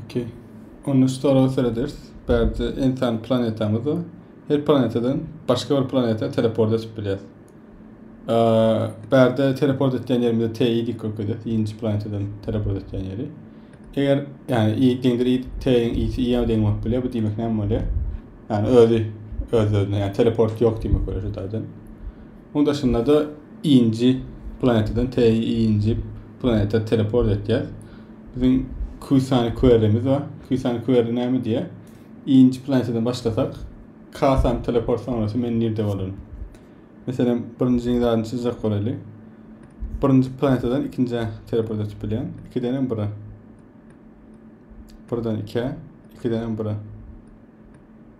Okey. Onda şu sorag serederis. Bärde ensan planetamyz bar. Her planetadan başga bir planeta teleport edip bilýär. Bärde teleport etýän ýerimiz T ýedi kökede, ýedinji planetadan teleport etýän ýeri. Eger ýani i deňdir i T-iň isi i-ä deň bolup bilýär, bu diýmek näme bolýar? Ýani özi öz-özüne, ýani teleport ýok diýmek bolýar şu taýdan. Munuň daşynda-da nji planetadan TI-nji planeta teleport etýär. Biziň Kusani Kuerimiz bar. Kusani Kueri näme diýýär? Nji planetadan başlasak, Kasani teleport sonrasy men nirde bolaryn? Meselem, birinji zadyny çyzjak bolaýly. Birinji planetadan ikinjä teleport etip bilýän. Ikiden hem bira. Birden ikä, ikiden hem bira.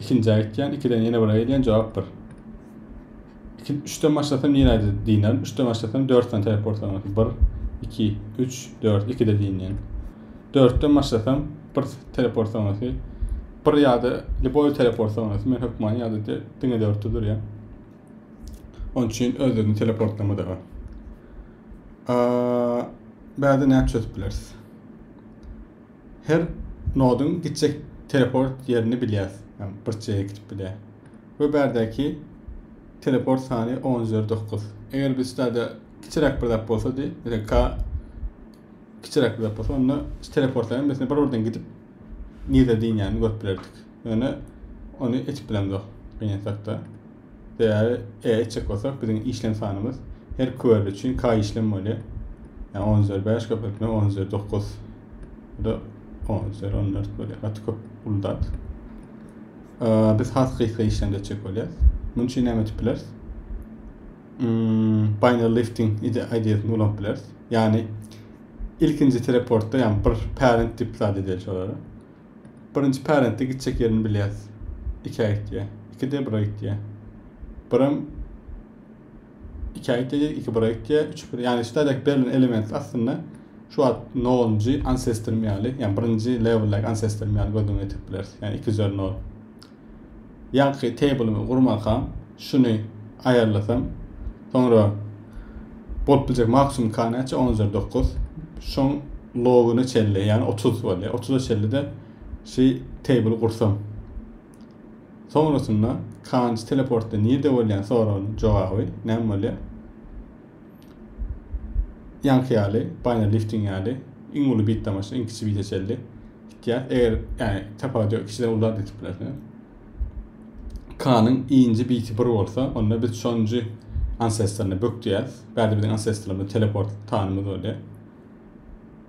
Ikinjä gitýän, ikiden ýene bire gelýän, jogap bir. Iki, üçden başlasam ýene diýnerin, üçden başlasam dörtden täp bolsa bolsa bir, iki, üç, dört, ikide diýinýän. Dörtden başlasam bir teleport sonrasy, bir ýa-da liboý teleport sonrasy men hökman ýa-da diňe dörtde durýan. Onun üçin özlerini teleportlama da bar. Bäde näçe çözüp bileris? Her nodyň gitjek teleport ýerini bilýäs. Ýagny bir çeýe gidip bilýär. We bärdäki teleport sany on üzeri dokuz. Eger biz şularda kiçiräk bir zat bolsa diý, meselem K kiçiräk bir zat bolsa onda şu teleportlaryň hemmesine bir birden gidip nirde dynýanyny görüp bilerdik. Ýöne ony etip bilemzok gynansak-da. Sebäbi e etjek bolsak biziň işlem sanymyz her kwerli üçin k işlem bolýar. Ýa on üzeri bäş köpeltme on üzeri dokuz. Bu da on üzeri on dört bolýar. Gaty köp uly zat. Biz has gysga işlemde etjek bolýarys. Munuň üçin näme edip bileris? Hmm, binary lifting ideýasyny ulanyp bileris. Ýagny ilkinji teleportda ýagny bir parent tip zat edeli şolara. Birinji parentde gitjek ýerini bilýäs. Ikä gitýä. Iki de bira gitýä. Biram ikä gitýä diýdik, iki bira gitýä, üç bir. Ýagny şudaýdak berlen element aslynda şu wagt nolunjy ansestrym ýaly, ýagny birinji leweldäki ansestrym ýaly göz öňüne getirip bileris. Ýagny iki üzeri nol. Ýaňky table-ymy gurmazkam, şuny aýarlasam, soňra bolup biljek maksimum k näçe? On üzeri dokuz. Şoň logyna çenli, ýagny otuz bolýar. Otuza çenli-de şu table gursam. Soňrasynda k-nji teleportda nirde bolýan soragynyň jogaby näme bolýar? Ýaňky ýaly, Baýner Lifting ýaly iň uly bit damaçda iň kiçi bite çenli gitýär. Eger, ýagny tapawut ýok, ikisem uly zat ýetip biler. K-nyň nji biti bir bolsa, onda biz şonjy ancestrny bök diýýäris. Bärde biziň ancestrymyz teleport tanymyz bolýar.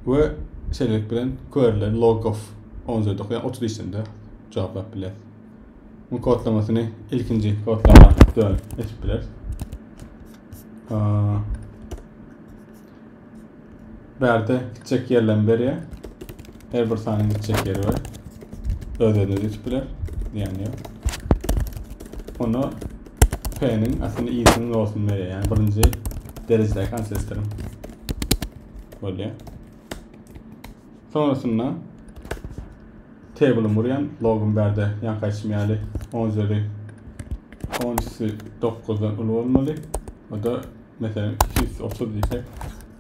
We şeýlelik bilen query'leri log of onzýodok ýa otuz işlemde jogaplap biler. Bu kodlamasyny ilkinji kodlama dön etip biler. Bärde kiçek ýerlem berýär. Her bir sanyň gitjek ýeri bar. Öz-özüne geçip biler. Diýen ýok. Onda P-niň aslynda i-siniň logarytmyny berýär. Ýagny birinji derejedäki ansestrym. Bolýar. Sonrasynda table'ym urýan, logum bärde ýanka aýtşym ýaly 10 üzeri 10 9-dan uly bolmaly. O da meselem 230 diýsek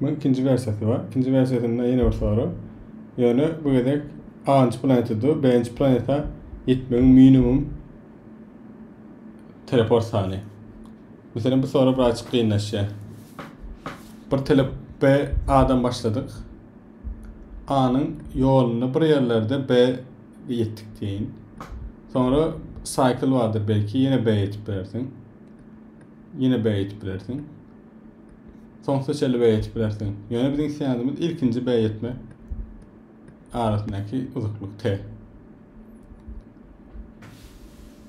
Munuň ikinji wersiýasy bar. Ikinji wersiýasynda ýene bir sorag. Ýöne bu gezek A-njy planeta dur, B-nji planeta ýetmegiň minimum teleport sany. Meselem, bu sorag birazjyk kynlaşýar. Bir telep B A-dan başladyk. A-nyň ýolunda bir ýerlerde B ýetdik diýin. Soňra cycle bardyr belki, ýene B ýetip bilersiň. Ýene B ýetip bilersiň. Soňsuza çenli beýetip bilersiň. Ýöne biziň isleýänimiz ilkinji beýetme arasyndaky uzaklyk t.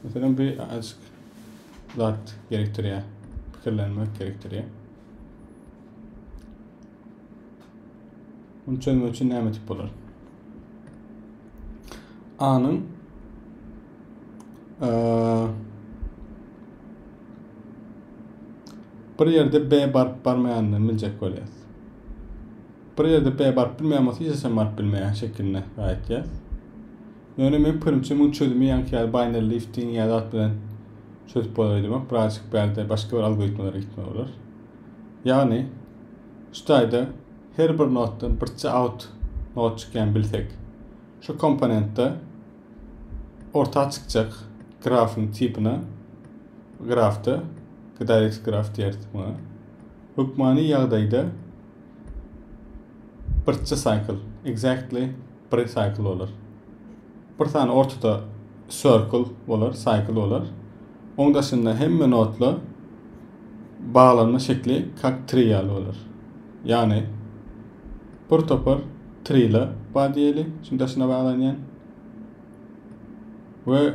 Meselem, bu azajyk zat gerekdirýär, pikirlenmek gerekdirýär. Bunu çözmek üçin näme etip bolar? A-nyň Bir ýerde B baryp barmaýanyny biljek bolýas. Bir ýerde B baryp bilmeýän bolsa hiç haçan baryp bilmeýän şekilinde gaýtýas. Ýöne men pikirimçe muň çözümi ýaňky ýaly binary lifting ýa zat bilen çözüp bolar öýdemok. Birazjyk bärde başga bir algoritmalara gitme bolar. Ýagny şu taýda her bir notdan birçe out not çykýan bilsek şu komponentde Orta çykjak grafyň tipine grafda GDX graf diýeris muňa. Hökmany ýagdaýda birçi cycle, exactly bir cycle bolar. Bir sany ortada circle bolar, cycle bolar. Oň daşynda hemme nodla baglanma şekli kak tri ýaly bolar. Ýagny Bir topar trila bar diýeli, şunuň daşyna baglanýan. We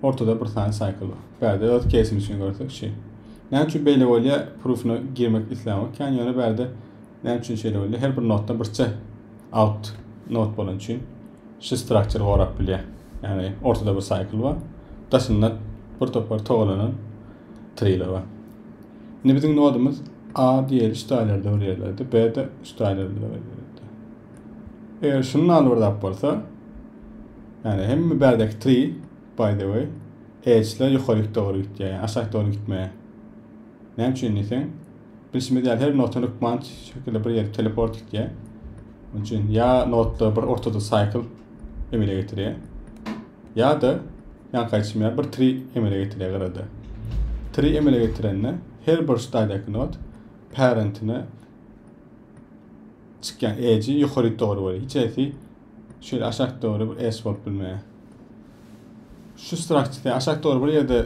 ortada bir sany cycle bar. Bärde öz kesim üçin görsek şey. Näme üçin beýle bolýa? Proofuna girmek islämok. Kan ýöne bärde näme üçin şeýle bolýa? Her bir notda birçe out not bolan üçin şu structure gorap bilýä. Ýani ortada bir cycle bar. Daşynda bir topar togalanan trailer bar. Indi biziň nodumyz A diýeli üç taýlarda bir ýerdedi, B de üç taýlarda bir ýerdedi. Eger şunuň aly bir zat bolsa, ýani hemme bärdeki tri, by the way, edge'ler ýokaryk dogry gitýär, ýani aşak dogry gitmeýär. Näme üçin diýseň, bilşimiz ýaly her notany rykman şekilde bir ýere teleport gitýär. Onun üçin ýa notda bir ortada cycle emele getirýär. Ýa-da, ýaňky aýtşym ýaly, bir tri emele getirýär gyrada. Tri emele getirende, her bir ştaýdaky not parentine çykýan edge ýokaryk dogry bolýar. Hiç hesi şeýle aşak dogry bir edge bolup bilmeýär. Şu strukturda aşak dogry bir ýerde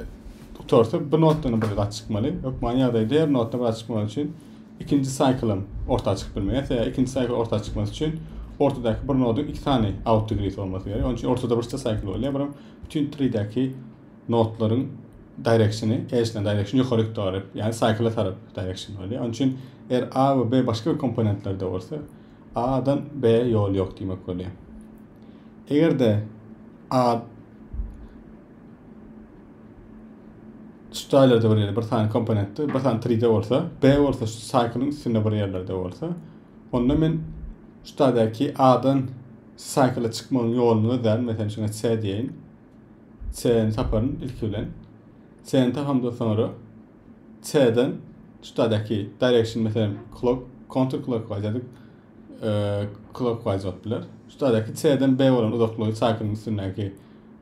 gutarsa, bir notdan bir zat çykmaly. Hökman ýagdaýda her notdan bir zat çykmaly üçin ikinji saýkylym orta çykyp bilmeýär. Sebäbi ikinji saýkyl orta çykmasy üçin ortadaky bir noduň iki sany outdegree bolmasy gerek. Onuň üçin ortada birçe saýkyl bolýar. Birim bütün treedäki nodlaryň directiony, erişilen direction ýokary tarap, ýagny saýkyla tarap direction bolýar. Onuň üçin er A we B başga bir komponentlerde bolsa, A-dan B ýol ýok diýmek bolýar. Eger-de A şu jaýlarda bir ýerde bir sany komponentde bir sany tride bolsa b bolsa şu saýkylyň üstünde bir ýerlerde bolsa onda men şu jaýdaky a-dan saýkyla çykmagyň ýoluny gözlärin meselem şuňa c diýeýin c-ni taparyn ilki bilen c-ni tapamdan soňra c-den şu jaýdaky direction meselem clock counter clockwise ýa-da e, clockwise bolup biler şu jaýdaky c-den b bolan uzaklygy saýkylyň üstündäki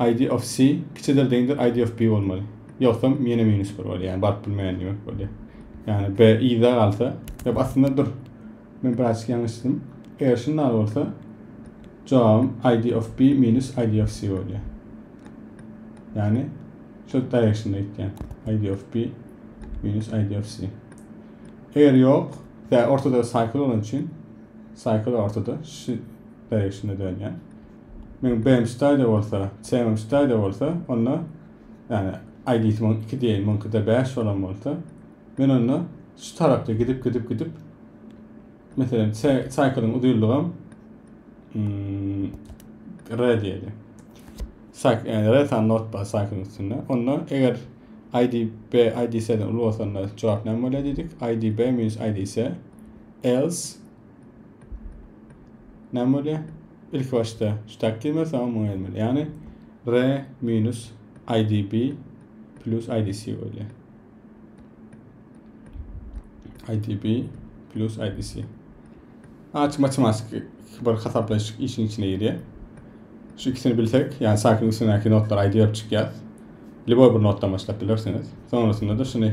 Id of C kiçidir deňdir id of B bolmaly. Ýogsam ýene minus 1 bolýar. Ýani baryp bilmeýän diýmek bolýar. Ýani B yza galsa, ýa aslynda dur. Men birazçyk ýalňyşdym. Eger şunda bolsa, jogabym id of B minus id of C bolýar. Ýani şol directionda gitýän. Id of B minus id of C. Eger ýok, tä ortada cycle bolan üçin cycle ortada şu directionda dönýär. Meň BMStaýda bolsa, CMMStaýda bolsa, onda, ýagny ID-si muň iki diýeýin, muňkyda bäş bolan bolsa, men onda şu tarapda gidip, gidip, gidip, meselem, C, cycle-yň uzynlygam, mm, re diýeli. Cyc, ýagny re sany not bar cycle-yň üstünde. Onda eger ID B ID C-den uly bolsa, onda jogap näme bolýar diýdik? ID B minus ID C, else Näme bolýar? Ilki başda şu takdir bolsa soň muňa gelmeli. Ýagny R minus IDB plus IDC bolýar. IDB plus IDC. Aç matematik bir hasaplaýyş işiň içine girýär. Şu ikisini bilsek, ýagny sakin üstündäki notlar aýdyp çykýar. Liboý bir notdan başlap bilersiniz. Sonrasynda-da şuny